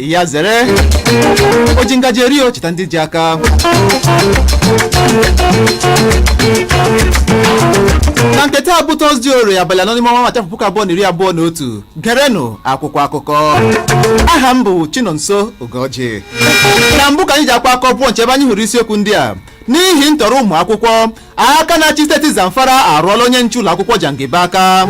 ya zere o ji ngaji eri o cheta ndị ji aka na nke taa bụ tọzdee orie abalị anọ n'ime ọnwa maachị afọ puku abụọ na iri abụọ na otu gerenụ akwụkwọ akụkọ aha m bụ chinonso ugoji na mbụ ka anyị ji akwa akọ pụọ nche ebe anyị hụrụ isiokwu ndị a n'ihi ntọrọ ụmụ akwụkwọ aka na-achị steeti zamfara arụọla onye nche ụlọ akwụkwọ jangibe aka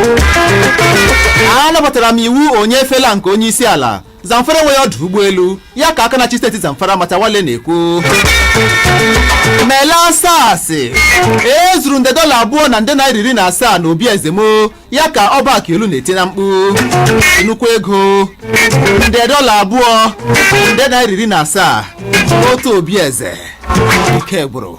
anabatara m iwu onye efela nke onye isi ala Zamfara enweghị ọdụ ụgbọelu ya ka aka na-achị steeti Zamfara Matawale na-ekwu mele asasị e zuru nde dọla abụọ na nde naira iri na asaa na obi eze m o ya ka ọba akiolu na-eti na mkpu nnukwu ego nde dọla abụọ nde naira iri na asaa otu obi eze ike gwụrụ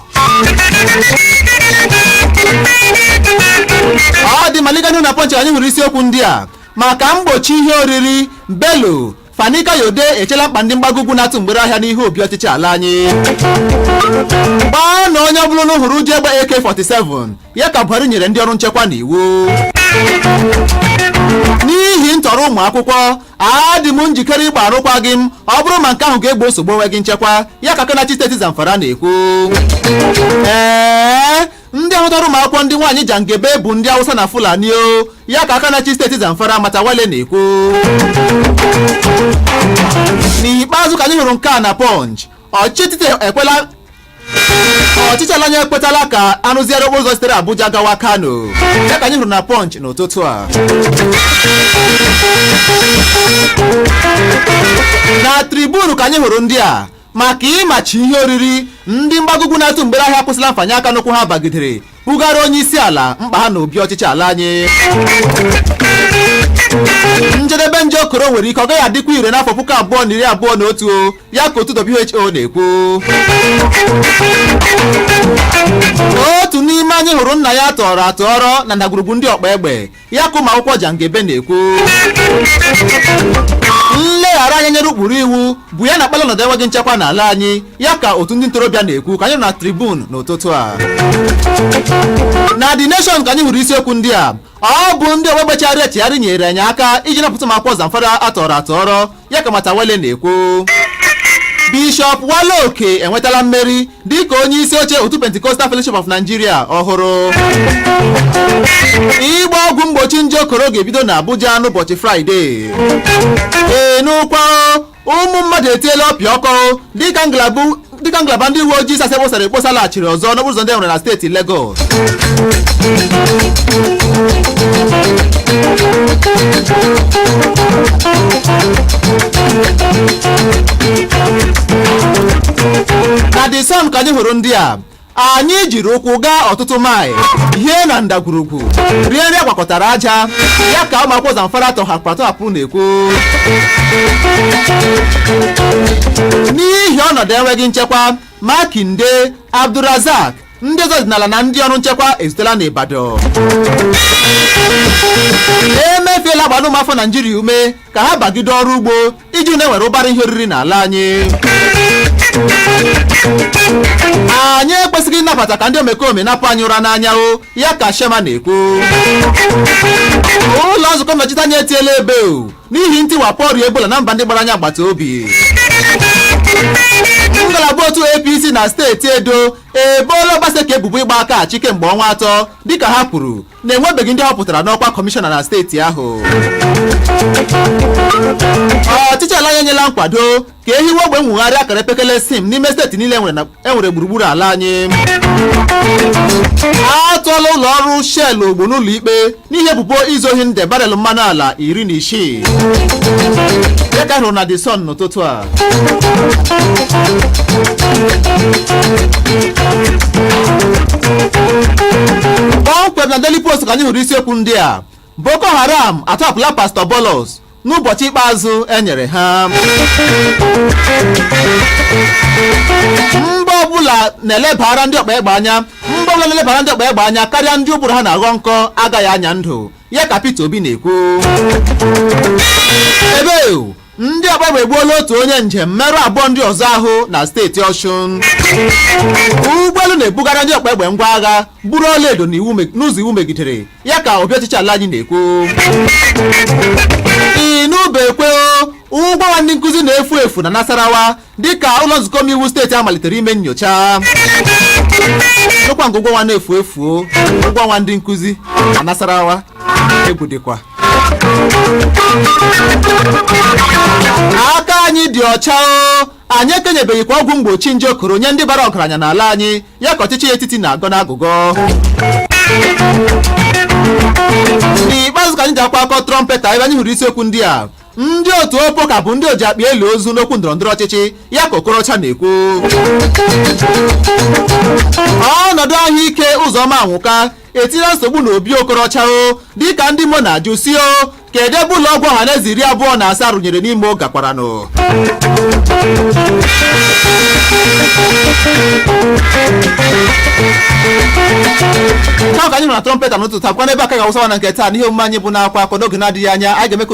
ọ dị maliganu na pọnchị anyị hụrụ isiokwu ndị a maka mgbochi ihe oriri Bello Fani Kayode echela mkpa ndị mgbago ugwu na-atụ mgbere ahịa n'ihu obi ọchịchị ala anyị gbaanụ onye ọbụla unu hụrụ ji egbe AK47 ya ka Buhari nyere ndị ọrụ nchekwa n'iwu n'ihi ntọrọ ụmụ akwụkwọ adị m njikere ịgba arụkwaghị m ọ bụrụ ma nke ahụ ga-egbo nsogbu enweghị nchekwa ya ka aka na-achị steeti Zamfara na-ekwu ee ndị ahụ tọrọ ụmụ akwụkwọ ndị nwaanyị jangebe bụ ndị awụsa na fulani o ya ka aka na-achị steeti zamfara matawale na-ekwu n'ikpeazụ ka anyị hụrụ nke a na pọnch ọchịchị ekwela ọchịchị ala anyị ekwetala ka arụziere okporo ụzọ sitere abuja gawa kano ya ka anyị hụrụ na pọnch n'ụtụtụ a na tribunu ka anyị hụrụ ndị a maka ịmachi ihe oriri ndị mgbago ugwu na-atụ mgbere ahịa akwụsịla mfanye aka n'ụkwụ ha bagidere bugara onye isi ala mkpa ha na obi ọchịchị ala anyị njedebe nje okoro nwere ike ọ gaghị adịkwa ire n'afọ puku abụọ na iri abụọ na otu ya ka otu WHO na-ekwu otu n'ime anyị hụrụ nna ya a tọrọ atọrọ na ndagwurugwu ndị ọkpa egbe ya ka ụmụakwụkwọ Jangebe na-ekwu nleghara anya nyere ụkpụrụ iwu bụ ya na-akpali ọnọdụ enweghị nchekwa n'ala anyị ya ka otu ndị ntorobịa na-ekwu ka anyị hụrụ na tribun n'ụtụtụ a na The Nation ka anyị hụrụ isiokwu ndị a ọ bụ ndị ọgba egbe chegharịrị echegharị nyere anyị aka iji napụta ụmụakwụkwọ Zamfara a tọrọ atọrọ ya ka Matawale na-ekwu Bishọp Wale Oke enwetala mmeri dịka onye isi oche otu Pentecostal Fellowship of Nigeria ọhụrụ ịgba ọgwụ mgbochi nje okoro ga-ebido na Abuja n'ụbọchị Fraịde ị nụkwa ụmụ mmadụ etiela ọpịa ọkụ dịka ngalaba dịka ngalaba ndị uwe ojii SARS e kposara ekposa laghachiri ọzọ n'okporo ụzọ ndị e nwere na steeti Lagos na the sun ka anyị hụrụ ndị a anyị jiri ụkwụ gaa ọtụtụ maịl hie na ndagwurugwu rie nri agwakọtara aja ya ka ụmụ akwụkwọ zamfara tọhapụ atọhapụrụ na-ekwu n'ihi ọnọdụ enweghị nchekwa makinde abdurazak ndị eze ọdịnala na ndị ọrụ nchekwa ezutela n'Ibadan emefiele agbaala ụmụafọ naijiria ume ka ha bagide ọrụ ugbo iji hụ na enwere ụbara ihe oriri n'ala anyị anyị ekwesịghị ịnabata ka ndị omekome napụ anyị ụra n'anya o ya ka shema na-ekwu ụlọ nzukọ nnọchite anya etiela ebe o n'ihi ntiwapụ ọrịa ebola na mba ndị gbara anyị agbata obi ngalaba otu apc na steeti edo eboola obaseki ebubo ịgba aka achị kemgbe ọnwa atọ dịka ha kwuru na enwebeghị ndị họpụtara n'ọkwa kọmishọna na steeti ahụ ọchịchị ala anyị enyela nkwado ka ehiwe ogbe nwogharị akara epekele sim n'ime steeti niile enwere gburugburu ala anyị a tụọla ụlọ ọrụ shell ogbo n'ụlọ ikpe n'ihi ebubo izu ohi nde barel mmanụ ala iri na isii dịka a hụrụ na the sun n'ụtụtụ a kpọmkwem na Daily Post ka anyị hụrụ isiokwu ndị a Boko Haram atọpụla Pastor Bulus n'ụbọchị ikpeazụ e nyere ha mba ọbụla na-elebara ndị ọkpa egbe anya karịa ndị ụbụrụ ha na-aghọ nkọ agaghị anya ndụ ya ka Peter Obi na-ekwu ebe ndị ọkpa egbe egbuola otu onye njem merụ abụọ ndị ọzọ ahụ na steeti ọshụn ụgbọelu na-ebugara ndị ọkpa egbe ngwa agha buru ọlaedo n'ụzọ iwu megidere ya ka obi ọchịchị ala anyị na-ekwu inubekwe ụgwọ ọnwa ndị nkụzi na-efu efu na nasarawa dịka ụlọ nzukọ omeiwu steeti a malitere ime nyocha ọ kwa nke ụgwọ ọnwa na-efu efu ụgwọ ọnwa ndị nkụzi na Nasarawa egwu dịkwa aka anyị dị ọcha o anyị ekenyebeghịkwa ọgwụ mgbochi nje okoro nye ndị bara ọgaranya n'ala anyị ya ka ọchịchị etiti na-agọ n'agụgọ n'ikpeazụ ka anyị ji akwa akọ Trumpeta ebe anyị hụrụ isiokwu ndị a ndị otu opoka bụ ndị oji akpa eli ozu n'okwu ndọrọndọrọ ọchịchị ya ka okorocha na-ekwu ọnọdụ ahụike ụzọma anwụka etinyela nsogbu na obi okorocha o dịka ndị imo na-ajụ sị o kedu ebe ụlọ ọgwụ ọhaneze iri abụọ na asaa rụnyere n'imo gakwaranụ taa ka anyị nọ na trọmpeta n'ụtụtụ a kwa n'ebe a ka a ga-awụsa ọwa na nke taa n'ihe omume anyị bụ n'akwa akọ n'oge na-adịghị anya anyị ga-eme ka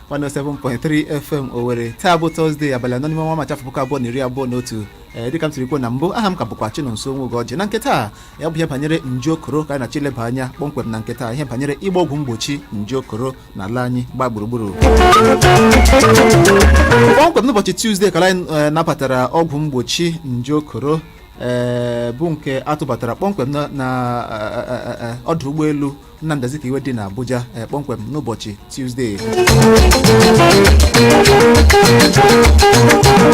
107.3 FM Owerri taa bụ Tọzdee abalị anọ n'ime ọnwa Maachị afọ puku abụọ na iri abụọ na otu ee dịka m siri kwuo na mbụ aha m ka bụkwa Chinonso Nwogeọjị na nke taa ya bụ ihe banyere nje okoro ka anyị na-achọ ileba anya kpọmkwem na nke taa ihe banyere ịgba ọgwụ mgbochi nje okoro na ala anyị gbaa gburugburu kpọmkwem n'ụbọchị Tuzdee ka anyị eh, nabatara ọgwụ mgbochi nje okoro ee bụ nke a tụbatara kpọmkwem na na, eh, eh, eh, eh, ọdụ ụgbọelu Nnamdi Azikiwe dị n'Abuja eh, kpọmkwem n'ụbọchị Tuzdee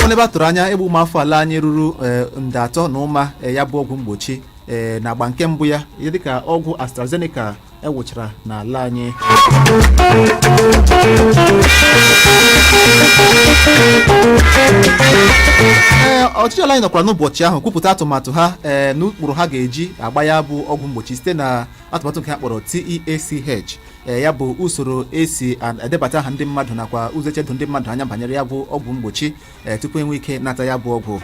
Ọ n'ebe a tụrụ anya ịgba ụmụ afọ ala anyị ruru eh, nde atọ na ụma eh, ya bụ ọgwụ mgbochi eh, na agba nke mbụ ya dịka ọgwụ AstraZeneca ewụchara n'ala anyị ee ọchịchị ala anyị nọkwara n'ụbọchị ahụ kwupụta atụmatụ ha ee n'ụkpụrụ ha ga-eji agba ya bụ ọgwụ mgbochi site na atụmatụ nke a kpọrọ TEACH ee ya bụ usoro esi a- edebata aha ndị mmadụ nakwa ụzọ eji edo ndị mmadụ anya banyere ya bụ ọgwụ mgbochi ee tupu enwee ike nata ya bụ ọgwụ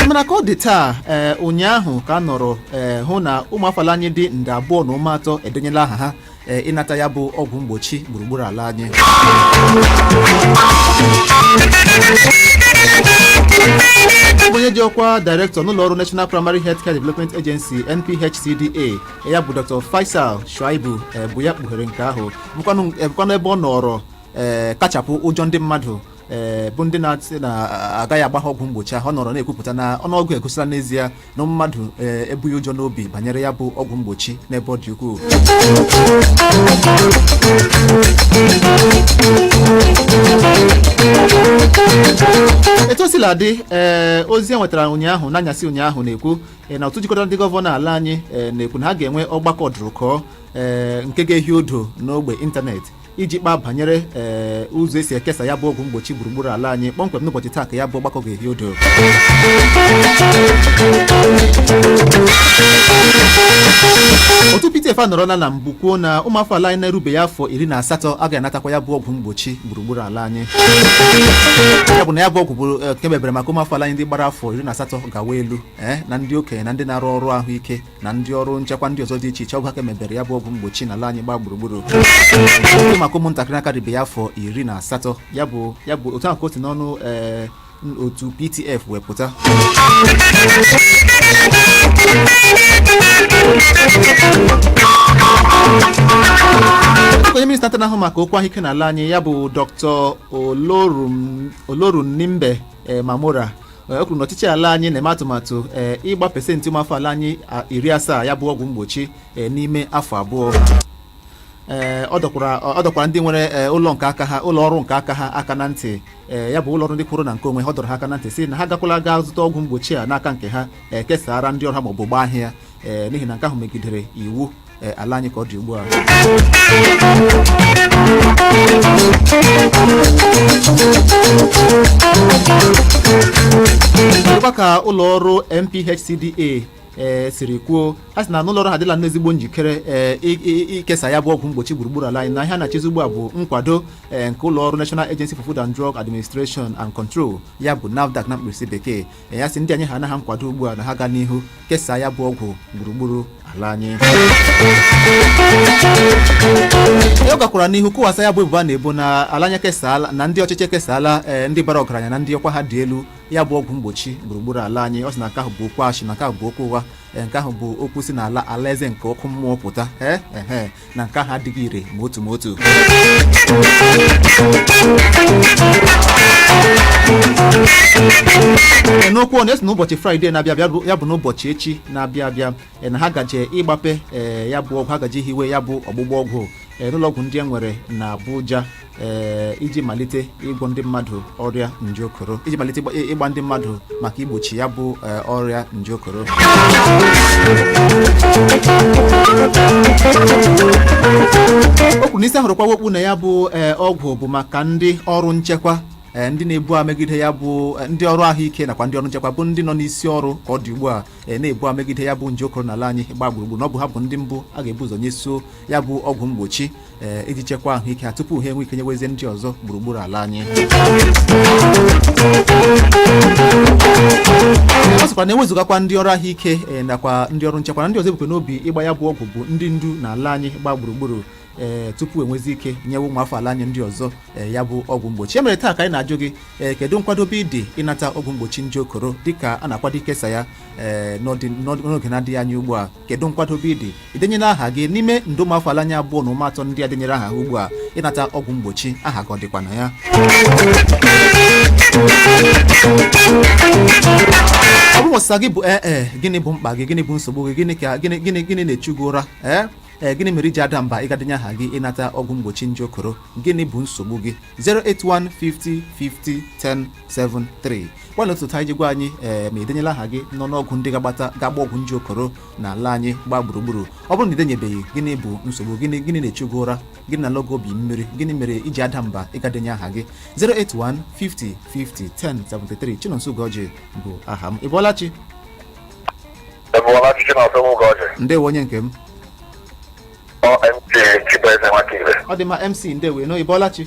mana ka ọ dị taa ee ụnyaahụ ka a nọrọ ee hụ na ụmụafọ ala anyị dị nde abụọ na ụma atọ edenyela aha ha ee, ịnata ya bụ ọgwụ mgbochi gburugburu ala anyị ọ bụ onye ji ọkwa direktọ n'ụlọ ọrụ national primary health care development agency nphcda ya bụ dr faisal shuaib eh, bụ ya kpughere nke ahụ bụkwanụ eh, bụkwanụ ebe ọ nọrọ eh, kachapụ ụjọ ndị mmadụ eh, bụ ndị na-asị na agaghị agba ha ọgwụ mgbochi ahụ ọ nọrọ na-ekwupụta na ọnụọgụ egosila n'ezie na ụmụ mmadụ ee, ebughị ụjọ n'obi banyere ya bụ ọgwụ mgbochi n'ebe ọ dị ukwuu etu o sila dị ee ozi e nwetara ụnyaahụ n'anyasị ụnyaahụ na-ekwu ee, na otu jikọtara ndị gọvanọ ala anyị ee, na-ekwu na ha ga-enwe ọgbakọ ọdụrụkọ ee, nke ga-ehi odo n'ogbe ịntanetị iji kpaa banyere ee ụzọ esi ekesa ya bụ ọgwụ mgbochi gburugburu ala anyị kpọmkwem n'ụbọchị taa ka ya bụ ọgbakọ ga-ehi odo otu PTF anọrọla na mbụ kwuo na ụmụafọ ala anyị na-erubeghị afọ iri na asatọ agaghị anatakwa ya bụ ọgwụ mgbochi gburugburu ala anyị ya bụ na ya bụ ọgwụ bụ eh, nke e mebere maka ụmụafọ ala anyị ndị gbara afọ iri na asatọ gawa elu eh, na ndị okenye na ndị na-arụ ọrụ ahụike na ndị ọrụ nchekwa ndị ọzọ dị iche iche ọ bụ ha ka e mebere ya bụ ọgwụ mgbochi n'ala anyị gbaa gburugburu ọ bụghị maka ụmụntakịrị akarịbeghị afọ iri na asatọ ya bụ ya bụ otu ahụ ka o si n'ọnụ ee, otu ptf wepụta onye minista nta na-ahụ maka okwu ahụike n'ala anyị ya bụ dr olorunimbe mamora Ee, o kwuru na ọchịchị ala anyị na-eme atụmatụ ee, ịgba pesentị ụmụafọ ala anyị a, iri asaa ya bụ ọgwụ mgbochi ee, n'ime afọ abụọ ee ọ dọkwara ọ dọkwara ndị nwere ee, ụlọ nke aka ha ụlọ ọrụ nke aka ha aka na ntị ee ya bụ ụlọ ọrụ ndị kwụrụ na nke onwe ha ọ dọrọ ha aka na ntị sị na ha gakwala gaa zụta ọgwụ mgbochi a n'aka nke ha ee, kesara ndị ọrụ ha maọbụ gbaa ahịa ee n'ihi na nke ahụ megidere iwu ee, ala anyị ka ọ dị ugbu a dịkwa ka ụlọ ọrụ NPHCDA ee siri kwuo ha sị na n'ụlọ ọrụ ha adịla n'ezigbo njikere ee i- i- ikesa ya bụ ọgwụ mgbochi gburugburu ala anyị na ihe a na-echezi ugbu a bụ nkwado ee, nke ụlọ ọrụ National Agency for Food and Drug Administration and Control ya bụ NAFDAC na mkpirisi bekee na a sị na e nye ha nkwado ugbu a na ha gaa n'ihu kesaa ya bụ ọgwụ gburugburu ala anyị ọ gakwara n'ihu kụwasa ya bụ ebubo a na-ebo na ala anyị kesaala na ndị ọchịchị ekesaala ee, ndị bara ọgaranya na ndị ọkwa ha dị elu ya bụ ọgwụ mgbochi gburugburu ala anyị ọ sị na nke ahụ bụ okwu asị na nke ahụ bụ okwu ụgha ee, nke ahụ bụ okwu si na ala alaeze nke ọkụ mmụọ pụta ee ehe na nke ahụ adịghị ire ma otu ma otu Ee, o kwuru na e si n'ụbọchị fraịde na-abịa abịa bụ- ya bụ n'ụbọchị echi na-abịa abịa ee, na ha gaje ịgbape ee, ya bụ ọgwụ ha gaje hiwe ya bụ ọgbụgba ọgwụ ee, n'ụlọọgwụ ndị e nwere na abuja ee iji malite ịgwọ ndị mmadụ ọrịa nje okoro iji malite ịgba- ịgba ndị mmadụ maka igbochi ya bụ ee, ọrịa nje okoro o kwuru na isi a hụrụ kwawa okpu na ya bụ ee, ọgwụ bụ maka ndị ọrụ nchekwa ee, ndị na-ebu agha megide ya bụ ee, ndị ọrụ ahụike nakwa ndị ọrụ nchekwa bụ ndị nọ n'isi ọrụ ka ọ dị ugbu a ee, na-ebu agha megide ya bụ nje okoro n'ala anyị gbaa gburugburu na ọ bụ ha bụ ndị mbụ a ga-ebu ụzọ nyeso ya bụ ọgwụ mgbochi ee iji chekwaa ahụike ha tupu ha enwee ike nyewezie ndị ọzọ gburugburu ala anyị ọ sịkwa na ewezụgakwa ndị ọrụ ahụike ee, nakwa ndị ọrụ nchekwa na ndị ọzọ e bukwa n'obi ịgba ya bụ ọgwụ bụ ndị ndu na ala anyị gbaa gburugburu ee tupu enwezie ike nyewe ụmụ afọ ala anyị ndị ọzọ ee, ya bụ ọgwụ mgbochi e mere taa ka anyị na-ajụ gị ee, kedu nkwadobe ị dị ịnata ọgwụ mgbochi nje okoro dịka a na-akwado ikesa ya ee, n'ọdị- n'ọdị- n'oge na-adịghị anya ugbu a kedu nkwadobe ị dị i denyela aha gị n'ime nde ụmụafọ ala anyị abụọ na ụma atọ ndị a denyere aha ugbu a ịnata ọgwụ mgbochi aha gị ọ dịkwa na ya ọ bụ na ọsịsa gị bụ ee eh, eh, gịnị bụ mkpa gị gịnị bụ nsogbu gị gịnị ka gịnị gịnị gịnị na-echu gị ụra ee eh? ee gịnị mere i ji ada mba ịga denye aha gị ịnata ọgwụ mgbochi nje koro gịnị bụ nsogbu gị 081505010 73 gwana otu anyị ji gwa anyị ee ma i denyela aha gị n'ọnụọgụ ndị ga-agbata ga-agba ọgwụ nje koro na ala anyị gbaa gburugburu ọ bụrụ na i denyebeghị gịnị bụ nsogbu gịnị gịnị na-echu gị ụra gịnị na-elo gị obi mmiri gịnị mere i ji ada mba ịga denye aha gị 08150501073 Chinonso Ugoji bụ aha m ị bọọla chi Ị bọọla chi Chinonso Ugoji. ndewo onye nke m Ọ MC Chibueze Nwakibe. ọ dị mma mc ndewo ị nọ ị bọọla chi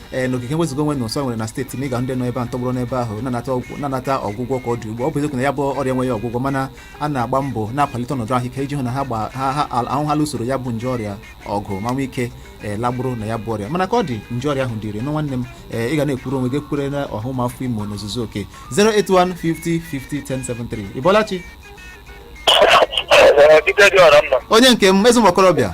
ee n'ogige nwezuga onwe na ụsọ e nwere na steeti ma ị ga ndị nọ ebe ahụ tọgbọrọ n'ebe ahụ na-anata ọgwụ- na-anata ọgwụgwọ ka ọ dị ugbu a. ọ bụ eziokwu na ya bụ ọrịa enweghị ọgwụgwọ mana a na-agba mbọ na-akwalite ọnọdụ ahụike iji hụ na ha gba- ha ha al- ahụ ha lụsoro ya bụ nje ọrịa ọgụ ma nwee ike ee lagburu na ya bụ ọrịa mana ka ọ dị nje ọrịa ahụ dịrị nụ nwanne m ee ị ga na-ekwuru onwe gị ekwure na ọha ụmụafọ imo n'ozuzu oke 081 50 50 1073 ị bọọla chi Ee, dike dị ọra mma onye nke m ezi ụmụ okorobịa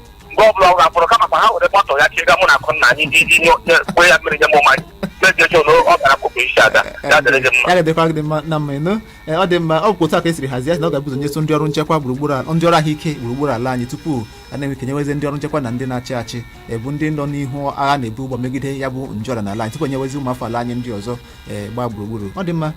mgbe ọbụla ọ ga-akpọrọ kama ka ha were bọtụl ya chịga mụ na akụ nna anyị iji nye onye kwe ya mmiri nye m ụma mezie chọ na ọ gara akụkụ isi ada ya dịrị gị mma ya ga-edekwa gị mma na mma ịnụ Ee, ọ dị mma ọ bụkwa otu a ka e siri hazie na ọ ga-ebu ụzọ nyesia ndị ọrụ nchekwa gburugburu ala- ndị ọrụ ahụike gburugburu ala anyị tupu a na-enwe ike nyewezi ndị ọrụ nchekwa na ndị na-achị achị ee bụ ndị nọ n'ihu agha a na-ebu ugbu a megide ya bụ nje ọrịa n'ala anyị tupu enyewezi ụmụafọ ala anyị ndị ọzọ ee, gbaa gburugburu ọ dị mma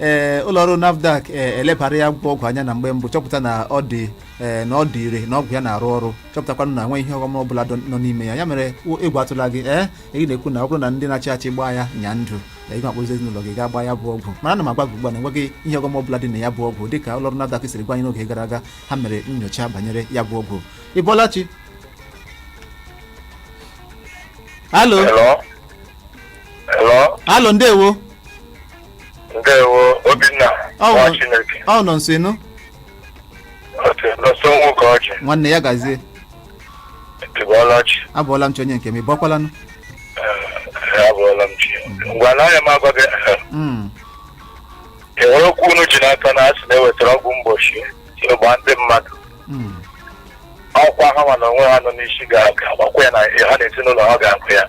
ee ụlọọrụ nafdac ee elebara ya bụ ọgwụ anya na mgbe mbụ chọpụta na ọ dị ee na ọ dị ire na ọgwụ ya na-arụ ọrụ chọpụtakwanụ na enweghị ihe ọghọm ọ bụla dọ- nọ n'ime ya ya mere o- egwu atụla gị ee ị na-ekwu na ọ bụrụ na ndị na-achị achị gbaa ya nọọ ndụ ee, ị ga-akpọzi ezinụlọ gị gaa gbaa ya bụ ọgwụ mana ana m agwa gị ugbu a na enweghị ihe ọghọm ọ bụla dị na ya bụ ọgwụ dịka ụlọọrụ nafdac siri gwa anyị n'oge gara aga ha mere nnyocha banyere ya bụ ọgwụ ị bọọla chi alo Hello? Hello? alo ndewo ndewo obinna Ọ nwa bụ- chineke ọ nọ nso ị nụ Chinonso Ugoji nwanne ya gazie ị bọọla chi abọọla m chi onye nke m ị bọkwalanụ abọọla m chi ngwa na anya m agwa gị Mm, e nwere okwu unu ji n'aka na a sị na e wetara ọgwụ mgbochi sị gbaa ndị mmadụ mm, ọ kwa ha ma na onwe ha nọ n'isi ga-aga gbakwa ya na ha na ezinụlọ ha ga-akụ ya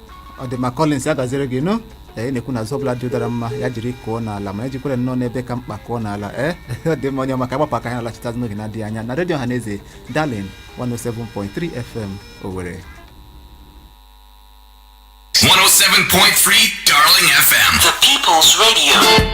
ọ dị mma Collins ya gaziere gị nụ ee ị na-ekwu na azụ ọbụla dị ụdara mma ya jiri kụọ n'ala ma ya jikwara nnọọ n'ebe ka mkpa kụọ n'ala ee ọ dị mma onye ọma ka a gbapụ aka anyị alachitazi n'oge na-adịghị anya na redio Ọhaneze Darlin 107.3 FM Owerri 107.3 Darling FM. The People's Radio.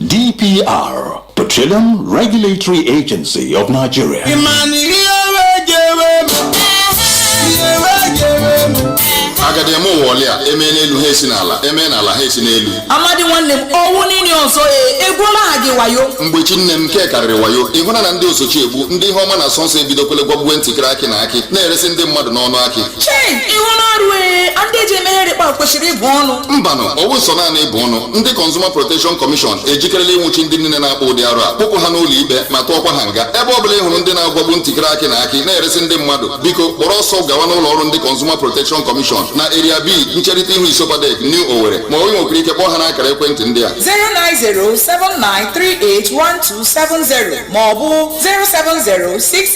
DPR, Petroleum Regulatory Agency of Nigeria. a gadị eme ụwa ọlịa eme n'elu ha esi n'ala eme n'ala ha esi n'elu Amadi nwanne m ọ wụ nini ọzọ e egwuola ha gị wayo Mgbechi nne m nke a karịrị wayo ị hụna na ndị osochi egbu ndị ihe ọma na-asọ nsọ ebidokwele gwagbuwe ntịkịrị akị na akị na-eresi ndị mmadụ n'ọnụ akị chei ị hụna arụ ee ndị eji emeghere kpa kwesịrị ịbụ ọnụ mbanụ ọ wụ sọ naanị ịbụ ọnụ ndị Consumer Protection Commission ejikerela ịnwụchi ndị niile na-akpa ụdị arụ a kpụpụ ha n'ụlọ ikpe ma tụọkwa ha nga ebe ọ bụla ị hụrụ ndị na-agwagbu ntịkịrị akị na akị na-eresi ndị mmadụ biko kpọrọ ọsọ gawa n'ụlọ ọrụ ndị Consumer Protection Commission na Area B ncherịta ihu ISOPADEC New Owerri ma onye nwekwara ike kpọọ ha n'akara ekwentị ndị a 09079381270 ma ọ bụ 07068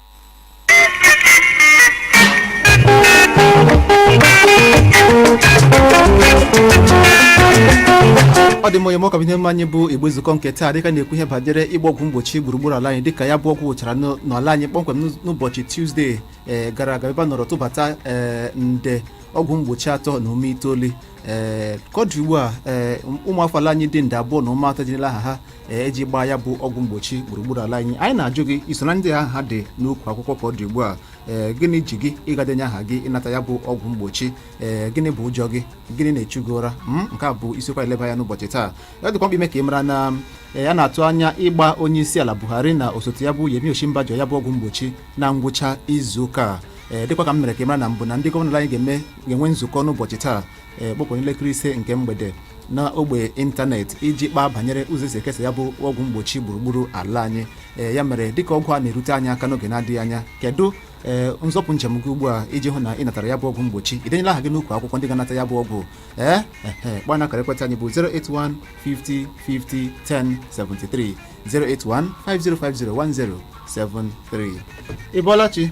ọ dị mma onye m ọ ka ihe omume anyị bụ igbe nzukọ nke taa dịka a na-ekwu ihe banyere ịgba ọgwụ mgbochi gburugburu ala anyị dịka ya bụ ọgwụ wụchara n'ụ- n'ala anyị kpọmkwem n'ụz- n'ụbọchị Tuesday ee gara aga ebe a nọrọ tụbata ee nde ọgwụ mgbochi atọ na ụma itoolu ee ka ọ dị ugbu a ee ụmụafọ ala anyị dị nde abụọ na ụma atọ edenyela aha ha iji gbaa ya bụ ọgwụ mgbochi gburugburu ala anyị anyị na-ajụ gị i so na ndị aha ha dị n'ukwu akwụkwọ ka ọ dị ugbu a ee gịnị ji gị ịga denye aha gị ịnata ya bụ ọgwụ mgbochi ee gịnị bụ ụjọ gị gịnị na-echu gị ụra m nke a bụ isiokwu anyị na-eleba anya n'ụbọchị taa ya dịkwa mkpa ime ka ị mara na ee, a na-atụ anya ịgba onye isi ala Buhari na osote ya bụ Yemi Osinbajo ya bụ ọgwụ mgbochi na ngwụcha izu ụka a ee dịkwa ka m mere ka ị mara na mbụ na ndị gọvanọ anyị ga-eme ga-enwe nzukọ n'ụbọchị taa ee kpọmkpọm n'elekere ise nke mgbede na ogbe ịntanetị iji kpaa banyere ụzọ e si ekesa ya bụ ọgwụ mgbochi gburugburu ala anyị ee ya mere dịka ọgwụ a na-erute anyị aka n'oge na-adịghị anya kedu ee nzọpụ njem gị ugbu a iji hụ na ị natara ya bụ ọgwụ mgbochi i denyela aha gị n'ukwu akwụkwọ ndị ga-anata ya bụ ọgwụ ee ehe gbaa na akara ekwentị anyị bụ 081 50 50 10 73 081 5050 10 73 ị bọọla chi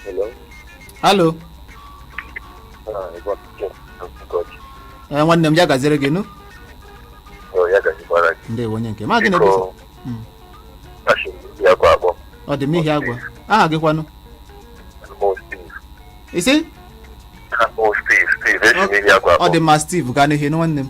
Hello. hello ee nwanne m ya gaziere gị nụ ndewo onye nke m aha gị na ebe i si Mm. ọ dị mma Ihiagwa aha gị kwanụ ị sị ọ dị mma Steve gaa n'ihu nụ nwanne m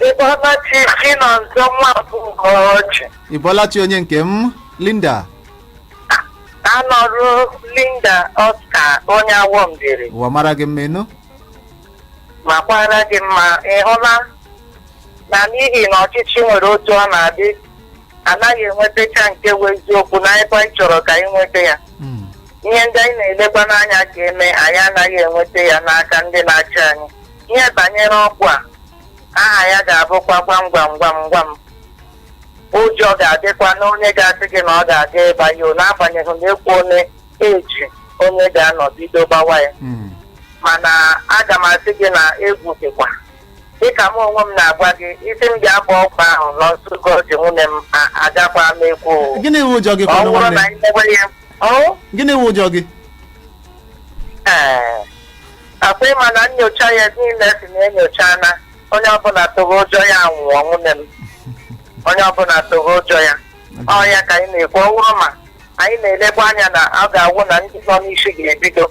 Ị bọọla chi Chinọnso nwa bụ Ugochi. ị bọọla chi onye nke m Linda Anọrụ Linda Oscar onye Awọ Mbieri. ụwa mara gị mma ị nụ makwara gị mma ị hụla na n'ihi na ọchịchị nwere otu ọ na-adị a naghị enwetacha nke bụ eziokwu na ebe anyị chọrọ ka anyị nweta ya Mm. ihe ndị anyị na-elekwa n'anya ka e mee anyị anaghị enweta ya n'aka ndị na-achị anyị ihe banyere ọgwụ a aha ya ga-abụkwa gwam gwam gwam gwam ụjọ ga-adịkwa n'onye ga-asị gị na ọ ga-aga ịgba ya o, n'agbanyeghị na ekwuo na eji onye ga-anọ bido gbawa ya Mm. mana aga m asị gị na egwu dịkwa dịka m onwe m na-agwa gị ị sị m gaa gbaa ọgwụ ahụ Nọnso Ugoji nwanne m a- agakwa m ekwu o. gịnị wụ ụjọ gị ọ kwanụ bụrụ na nwanne anyị mewe ya ọ gịnị wụ ụjọ gị ee ọkwa ịma na nyocha ya niile si na enyocha na onye ọbụla tụrụ ụjọ ya nwụọ nwanne m onye ọbụla tụrụ ụjọ ya ọ ya ka anyị na-ekwu ọ wụrụ ma anyị na-elekwa anya na ọ ga-awụ na ndị nọ n'isi ga-ebido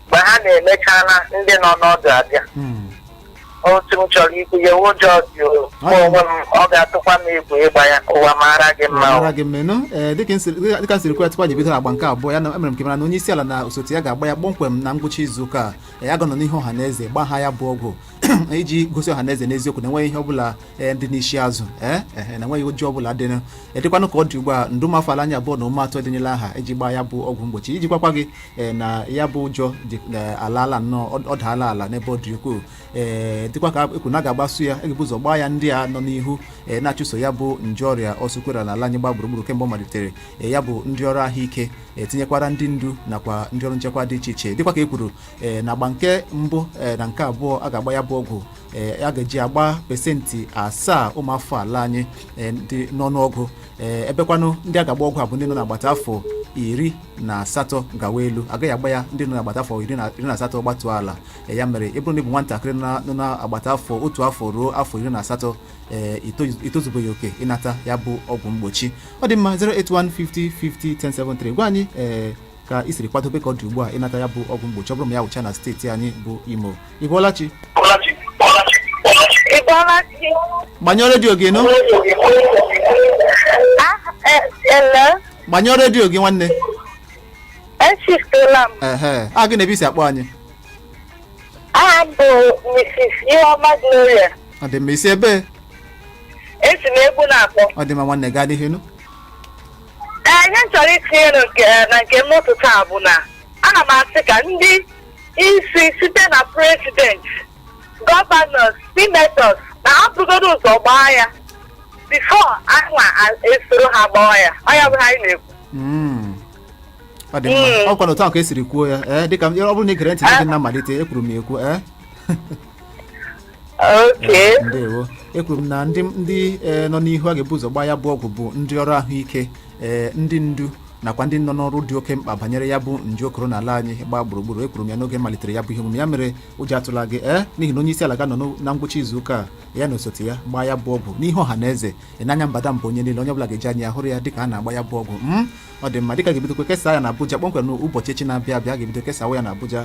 mgbe ha na-emechala ndị nọ n'ọdụ abịa Mm. otu m chọrọ ikwu ya ụjọ dị o. Mụ onwe m ọ ga-atụkwa m egwu ịgba ya ụwa mara gị mma o. mara gị mmenụ ee dịka m siri- dịka- dịka m siri kwuo tupu anyị bido agba nke abụọ ya na emere m ka amara na onye isi ala na osote ya ga-agba ya kpọmkwem na ngwụcha izu ụka a ya ga-anọ n'ihu ọha na eze gbaa ha ya bụ ọgwụ iji gosi ọha na eze n'eziokwu na enweghị ihe ọbụla ee dị n'isi azụ ee ehe, na enweghị ụjọ ọbụla dị na ya dịkwanụ ka ọ dị ugbu a nde ụmụ afọ ala anyị abụọ na ụma atọ edenyela aha iji gbaa ya bụ ọgwụ mgbochi iji gwakwa gị ee, na ya bụ ụjọ dị ee, alaala nnọọ ọ- ọ daala ala n'ebe ọ dị ukwuu ee dịkwa ka ekwu na a ga-agbasu ya a ga-ebu ụzọ gbaa ya ndị a nọ n'ihu ee, na-achụso ya bụ nje ọrịa ọsụkwara na ala anyị gba gburugburu kemgbe ọ malitere ee, ya bụ ndị ọrụ ahụike etinyekwara ndị ndu nakwa ndị ọrụ nchekwa dị iche iche dịkwa ka e kwuru ee, na agba nke mbụ ee, na nke abụọ a ga-agba ya bụ ọgwụ ee a ga-eji agba pesentị asaa ụmụafọ ala anyị ee, dị n'ọnụọgụ ee, ebekwanụ ndị a ga-agba ọgwụ a bụ ndị nọ n'agbata afọ iri na asatọ gawa elu agaghị agba ya ndị nọ n'agbata afọ iri na iri na asatọ gbatuo ala Ee, ya mere ị bụrụ na ị bụ nwatakịrị na- nọ n'agbata afọ otu afọ ruo afọ iri na asatọ ee, ito- itozubeghị oke ịnata ya bụ ọgwụ mgbochi ọ dị mma 08150501073 gwa anyị ee, ka i siri kwadobe ka ọ dị ugbu a ịnata ya bụ ọgwụ mgbochi ọ bụrụ ma ya wụchaa na steeti anyị bụ Imo ị bọọla chi Ị bọọla chi? gbanyụọ redio gị nụ Ah, eh, hello? gbanyụọ redio gị nwanne Echifutela m. ehe aha gị na ebe isi akpọ anyị Aha m bụ Mrs. Iheoma Gloria. ọ dị mma isi ebee Esi m Egbu na-akpọ. ọ dị mma nwanne gaa n'ihu nụ Ee, ihe m chọrọ itinye na nke na nke m n'ụtụtụ a bụ na ana m asị ka ndị isi site na president governors senators na ha burugodo ụzọ gbaa ya before anyịnwa esoro ha gbaa ya ọ ya bụ ihe anyị na-ekwu Mm. ọ dị mma Mm. ọ kwanụ otu ahụ ka esiri kwuo ya ee dịka m- ọ bụrụ na ị gere ntị n'oge na mmalite ekwuru m ya ekwu ee Okay. ndewo ekwuru m na ndị ndị eh, nọ n'ihu a ga-ebu ụzọ gbaa ya bụ ọgwụ bụ ndị ọrụ ahụike eh, ndị ndu nakwa ndị nọ n'ọrụ dị oke mkpa banyere ya bụ nje okoro n'ala anyị gbaa gburugburu ekwuru m ya n'oge m malitere ya bụ ihe omume ya mere ụjọ atụla gị ee n'ihi na onye isi ala ga-anọ n'o- na ngwụcha izu ụka a, ya na osote ya gbaa ya bụ ọgwụ n'ihu ọha na eze ị n'anya mbadamba onye niile onye ọbụla ga-eji anya ya hụrụ ya dịka a na-agba ya bụ ọgwụ m ọ dị mma dịka a ga-ebidokwa kesaa ya na abuja kpọmkwem n'ụbọchị echi na-abịa abịa a ga-ebido kesawa ya na abuja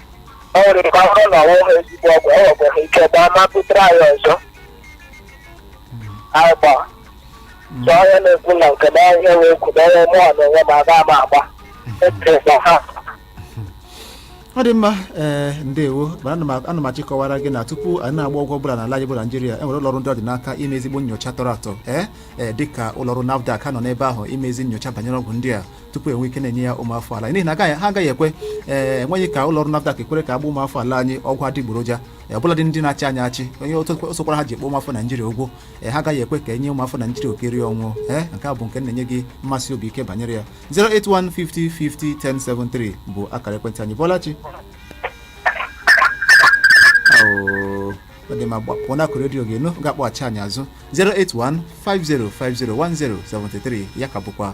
o nwere ike ọ bụrụ na ọ nweghị ezigbo ọgwụ o nwekwara ike gbaa ma butere anyị ọzọ anyị gbaa so onye na-ekwu na nke na ihe wee kwu na onye mụọ na onwe m aga m agba ekerekwa ha ọ dị mma ee ndewo mana ana m- ana m achịkọwara gị na tupu anyị na-agba ọgwụ ọbụla n'ala anyị bụ naijiria e nwere ụlọrụ ndị ọ dị n'aka ime ezigbo nyocha tọrọ atọ ee ee dịka ụlọrụ nafdac ha nọ n'ebe ahụ ime ezi nyocha banyere ọgwụ ndị a tupu enwe ike na-enye ya ụmụafọ ala n'ihi na agaghị ha agaghị ekwe ee enweghị ka ụlọ ọrụ NAFDAC ekwere ka a gbaa ụmụafọ ala anyị ọgwụ adịgboroja ee, ọbụladị ndị na-achị anyị achị onye otu ọ sọkwara ha ji ekpe ụmụafọ naijiria ụgwọ ee, ha agaghị ekwe ka e nye ụmụafọ naijiria okiri ọnwụ ee nke a bụ nke m na-enye gị mmesi obi ike banyere ya 08150501073 bụ akara ekwentị anyị bọọla chi Oo, ọ dị mma gbapụ n'akụkụ redio gị nụ ga-akpọghachi anyị azụ 08150501073 ya ka bụkwa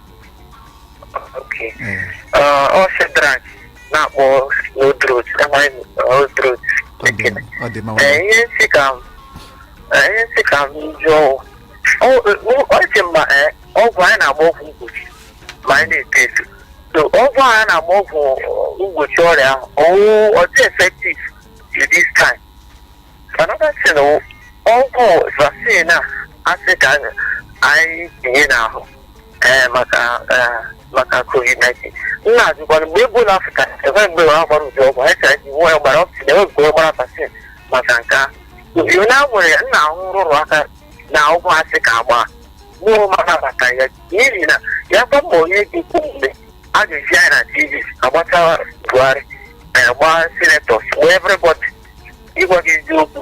Okay. Ee, Ah, ọ Shedrack na-akpọ n'odrot amaghị m odrot ọ dị mma, ọ dị mma. Ee, ihe m sị ka m ee, ihe m sị ka m jụọ Ọ- ọ- ọ dị mma ee, ọgwụ anyị na-agba ọgwụ mgbochi ma anyị na-eto eto so ọgwụ ahụ a na-agba ọgwụ mgbochi ọrịa ahụ ọ wụ ọ dị effective to this time another thing wụ ọgwụ vaccine a a sị ka anyị- anyị tinye n'ahụ ee maka ee, maka covid-19 m na-ajụkwa na mgbe ebola afrịka enwe mgbe ha gbara ụdị ọgwụ hiv nwa ya gbara ọkụsị na enwe mgbe ọ gbara vaccine maka nke a yo na nwere ya m na-ahụ nrụrụ aka na ọgwụ a sị ka a gbaa mụrụ mara maka ya n'ihi na ya gwa ma onye dị ukwu mgbe a ga-ezi anyị na tv agbata buhari eh, gbaa senators gbaa everybody ịgwa gị eziokwu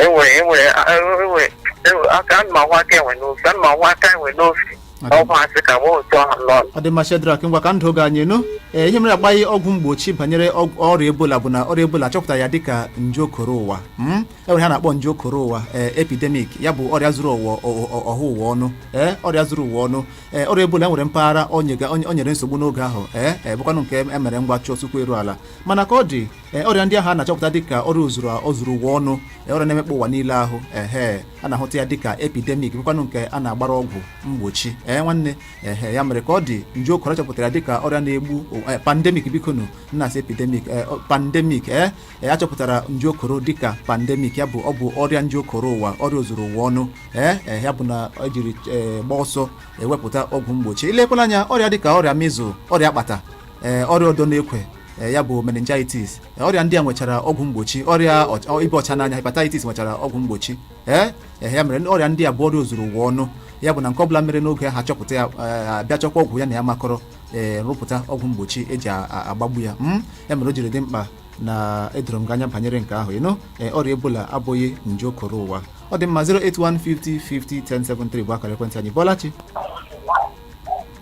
enwere enwere enwere enwere- aka ana m ahụ aka enwe n'ofe ana m ahụ aka enwe n'ofe Ọ dị- ọgwụ a sị ka nwe otu ahụ nọ ọ dị mma shedrak ngwa ka ndị oge anyị nụ ee ihe mere agbaghị ọgwụ mgbochi banyere ọgwụ- ọrịa ebola bụ na ọrịa ebola achọpụtaghị ya dịka nje okoro ụwa mm? e nwere ihe a na-akpọ nje okoro ụwa ee epidemic ya bụ ọrịa zuru ụwa ọ- ọ- ọha ụwa ọnụ ee ọrịa zuru ụwa ọnụ ee ọrịa ebola nwere mpaghara o nyega- o nyere nsogbu n'oge ahụ ee ee bụkwanụ nke e mere ngwa chụọ ọsọ ụkwụ eru ala mana ka ọ dị ee ọrịa ndị ahụ a na-achọpụta dịka ọrịa ozuru ụwa ọnụ ee, ọrịa na-emekpa ụwa niile ahụ ehe a na-ahụta ya dịka epidemic bụkwanụ nke a na-agbara ọgwụ mgbochi ee nwanne ehe ya mere ka ọ dị nje okoro chọpụtara dịka ọrịa na-egbu ụwa- ee, pandemic bikonu m na-asị epidemic ee, ọ- pandemic ee ee, a chọpụtara nje okoro dịka pandemic ya bụ ọ bụ ọrịa nje okoro ụwa ọrịa ozuru ụwa ọnụ ee ee, ya bụ na ejiri ee, gbaa ọsọ ewepụta ọgwụ mgbochi ilekwala anya ọrịa dịka ọrịa measles ọrịa akpata ee ọrịa ọdọ n'ekwe e, ya bụ meningitis e, ọrịa ndị a nwechara ọgwụ mgbochi ọrịa ịba ọcha n'anya hepatitis nwechara ọgwụ mgbochi ee e, ya mere ọrịa ndị a bụ ọrịa ozuru ụwa ọnụ ya bụ na nke ọbụla mere n'oge ha chọpụta ya abịa chọkwa ọgwụ ya na ya makọrọ ee rụpụta ọgwụ mgbochi eji agbagbu ya hmm? ya mere o jiri dị mkpa na edoro m gị anya banyere nke ahụ na ọrịa ebola abụghị nje okoro ụwa ọ dị mma 08150501073 bụ akara ekwentị anyị bọọla chi